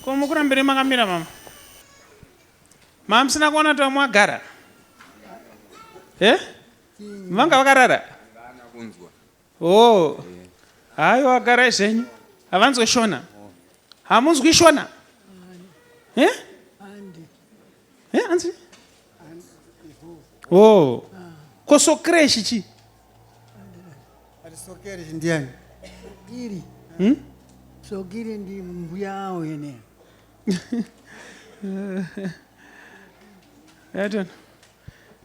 Ko mukurambire makamira mama? Mamusina kuona kuti vamwe vagara? Eh? Vanga vakarara? Oh. Hayo vagara zvenyu. Havanzwe shona. Hamunzwi shona? Eh? he eh, anzi oh ko sokreshi chi sokreshi ndiani sokiri hmm? sokiri ndi mbuya awo yene yatona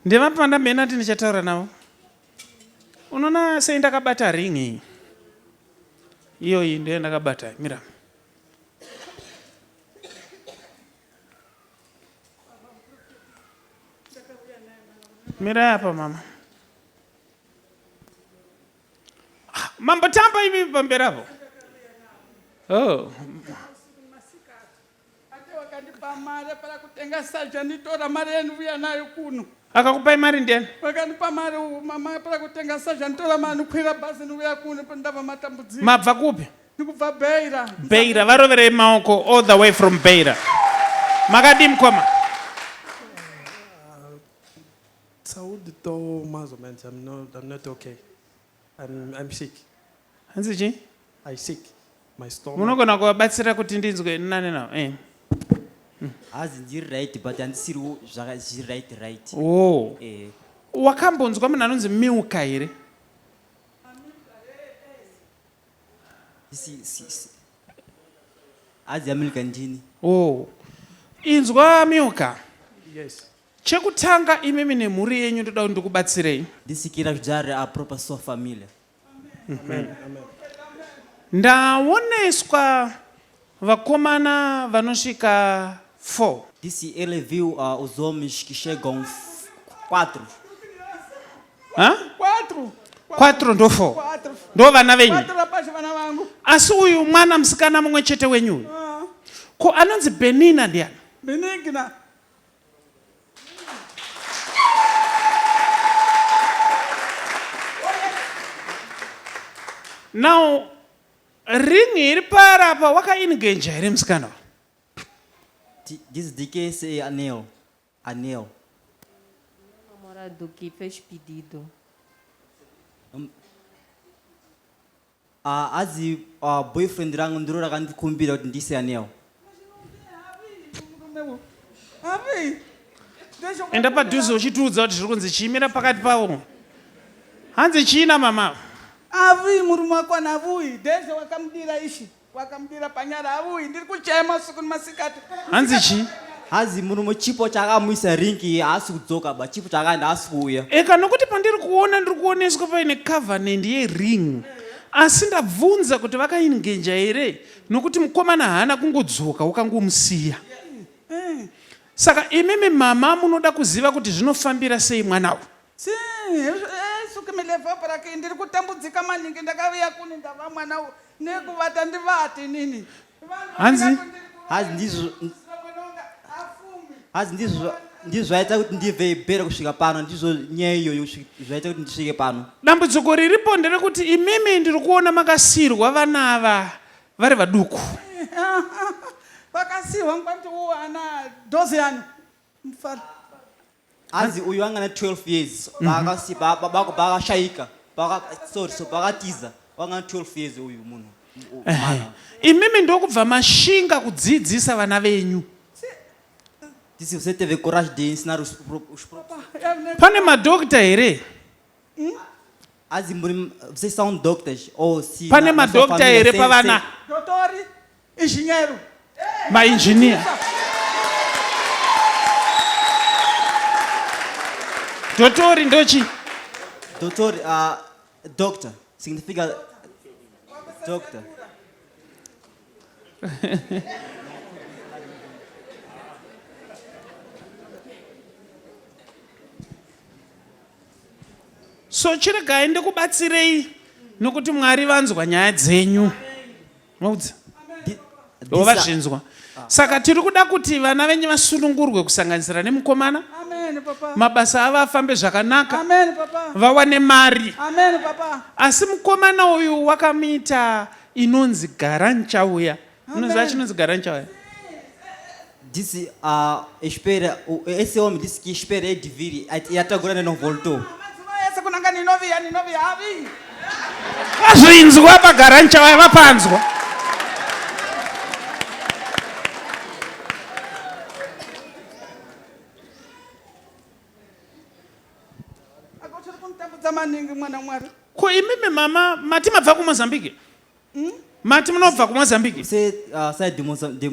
ndevapanda mhena ti ndichataura navo unoona sei ndakabata ring iyi iyoyi ndoyo ndakabata mira mirai apa mama ah, mambo tamba imi pamberi apo oh. akakupai mari ndiyani vakandipa mari mama para kutenga saja nditora mari ndikwira bhazi ndiuya kuno ndava matambudziko mabva kupi Tikubva Beira. Beira varoverei maoko all the way from Beira. Makadii mkoma? Saudi to measurements. I'm not. I'm not okay. I'm. I'm sick. Hanzi chi? I sick. My stomach. Munogona kuvabatsira kuti ndinzwe nane nawo. Eh. Hazi ndiri right but handisiri zvaka zviri right right. Oh. Eh. Wakambonzwa munhu anonzi Milka here? Si, si, si. Hadzi yaMilka ndini. Oh. Inzwa Milka. Yes. Chekutanga imimi nemhuri yenyu ndoda kuti ndikubatsirei. Ndisikira zvijare a proper so familiar. Amen. Amen. Ndaoneswa Vakomana vanosvika 4. Disse ele viu a os homens que chegam quatro. Hã? Quatro. Quatro ndo four. Quatro. Ndo vana venyu. Quatro rapaz vana vangu. Asi uyu mwana musikana mumwe chete wenyu uyu. Ah. Ko anonzi Benina ndiani? Benigna. Now Ring iri pari apa wakaingenja here musikana wa? T- This DKSA Anel. Anel. Namora do que fez pedido. Ah, azi ah, boyfriend rangu ndiro rakandikumbira kuti ndiise Anel. enda padhuze uchitiudza kuti zviri kunzi chiimira pakati pavo hanzi chiina mama avi murume wako anavuyi deze wakamudira ishi wakamudira panyara avuyi ndiri kuchaya masuku nemasikati hanzi chii hanzi murume chipo chakamuisa ringi haasi kudzoka ba chipo chakaenda haasi kuuya eka nokuti pandiri kuona ndiri kuoneswa paine covenant yering asi ndabvunza kuti vakaingenja here nokuti mukomana haana kungodzoka wakangomusiya eh. saka imimi mama munoda kuziva kuti zvinofambira sei mwana uyu eh, ndiri kutambudzika maningi ndakaviya kuni ndava mwana uyu nekuvata ndivati nini hanzi hanzi ndizvo hanzi ndizvo ndizvo zvaita kuti ndibve ibhere kusvika pano ndizvo nyaya iyoyo zvaita kuti ndisvike pano dambudziko riripo nderekuti imimi ndiri kuona makasiirwa vana ava vari vaduku vakasiirwa ngwati u ana dosian hanzi uyu anga na 12 years vakasipa mhm. baba kubva vakashaika sorry so vakatiza vanga na 12 years uyu munhu Ehe. Imimi ndokubva mashinga kudziidzisa vana venyu. Dit is você teve coragem de ensinar os, pro- os próprios. Pane madokita here? As in, muri- vocês são doctors ou se Pane na- na sua madokita família, here sem- pavana? sem- Dotori, engenheiro. Mainjiniya. Dotori ndochi. Doutor, ah, Doctor, significa doctor. so chiregai ndikubatsirei nokuti mwari vanzwa nyaya dzenyu maudza ivo vazvinzwa saka tiri kuda kuti vana venyu vasunungurwe kusanganisira nemukomana mabasa avo afambe zvakanaka vawane mari asi mukomana uyu wakamuita inonzi gara nchauya unoziva chinonzi gara nchauya This uh, eshpera uh, eseom this kishpera ediviri yatagura nenovolto ese kunanga ninoviya ninoviya avi vazvinzwa pagara nchawaya vapanzwa ako chiri kunditambudza maningi mwana mwari ko imimi mama mati mabva kumozambique Hmm? Mati munobva kuMozambique? We say uh, side Moza, the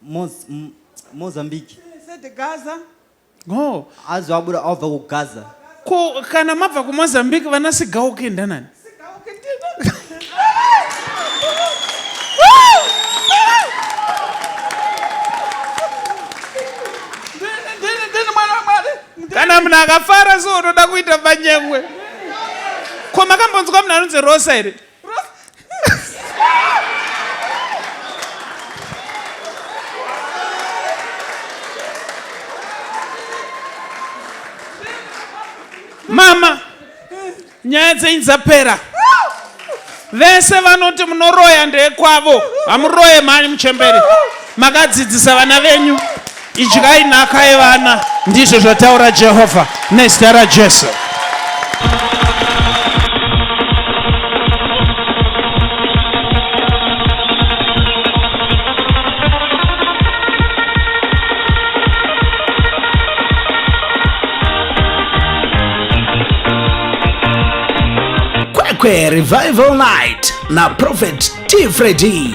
Moz, M- Mozambique. He said the Gaza. Oh. Azi wabuda awubva kuGaza. Ko kana mabva kuMozambique vana Sigauke ndanani? Sigauke ndino. kana munhu akafara so unoda kuita manyengwe ko makambonzwa munhu anonzi rosa here mama nyaya dzenyu dzapera vese vanoti munoroya ndekwavo hamuroye mhani muchembere makadzidzisa vana venyu Idyai nhaka yevana, ndizvo zvataura Jehovha nezita raJesu. Kwekwe Revival Night na Prophet T. Freddy.